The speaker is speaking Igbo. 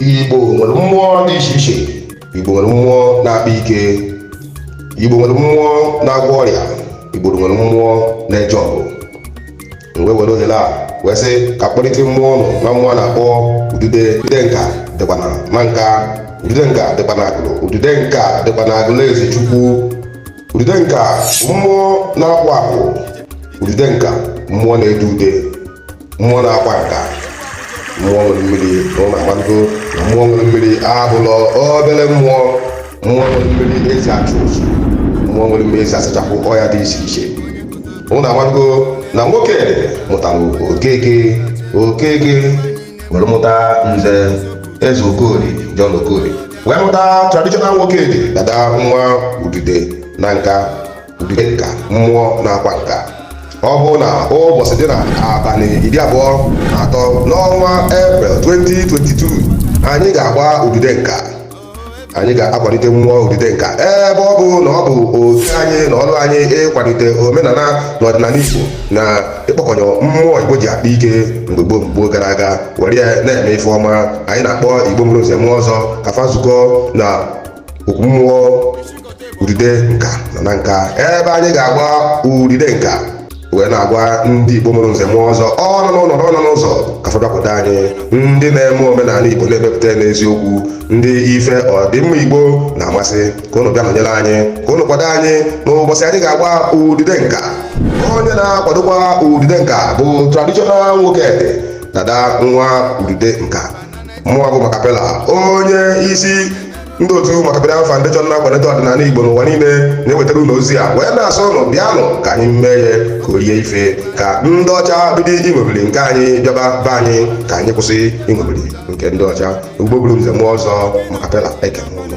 igbo nwere mmụọ dị iche iche igbo nwere mmụọ na-akpa ike igbo nwere mmụọ na-agwọ ọrịa igbo nwere mmụọ na-eje ọgụ m wee were ohere a wee sị ka kpọlite mmụọ ụnụ ma mmụọ a na-akpọ udude udude nka dịkwa na nanka udude nka dịkwa na agụlụ udude nka dịkwa na agụlụ ezechukwu Udude nka mmụọ na-akpụ akpụ udude nka mmụọ na-ede ude mmụọ na-akwa nka mmụọ nwere mmiri ụnụ amalugo na mmụọ nwere mmiri abụlọ obere mmụọ mmụọ nwere mmiri e ji achụ ụzụ mmụọ nwere mmiri e ji asachapụ ọya dị iche iche ụnụ amalugo na nwoke mụtara okeke okeke were mụta nze eze okoli John okoli wee mụta traditional Nwokedi dada nwa udude Nanka udude nka mmụọ na-akwa nka ọ bụ na ụbọchị dị na abalị iri abụọ na atọ n'ọnwa eprel 2022 anyị ga-agba udude nka anyị ga-akwalite mmụọ udude nka ebe ọ bụ na ọ bụ oke anyị na ọrụ anyị ịkwalite omenala na ọdịnala Igbo na ịkpọkọnyọ mmụọ igbo ji akpa ike mgbe gboo gboo gara aga were ya na-eme ife ọma anyị na-akpọ igbo mụrụ nze mụọ ọzọ ka fa zukọ na okwu mmụọ udude nka na nanka ebe anyị ga-agba udude nka wee na-agwa ndị igbo mụrụ nze mụọ ọzọ ọ nọ n'ụlọ na ọ nọ n'ụzọ ka fa bịakwute anyị ndị na-eme omenala igbo na-emepụta n'eziokwu ndị ife ọdịmma igbo na-amasị ka ụnụ bịa nọnyere anyị ka ụnụ kwado anyị n'ụbọchị anyị ga-agba udude nka onye na-akwadokwa udude nka bụ traditional nwokedi dada nwa udude nka mụwa bụ makapela onye isi ndị otu makapela foundation na-akwalite ọdịnala igbo n'ụwa niile na-ewetara ụnụ ozi a wee na-asị ụnụ bịanụ ka anyị mee ya ka o rie ife ka ndị ọcha bido iṅomiri nke anyị bịaba be anyị ka anyị kwụsị iṅomiri nke ndị ọcha igbo mụrụ nze mụọ ọzọ makapela ekene ụnụ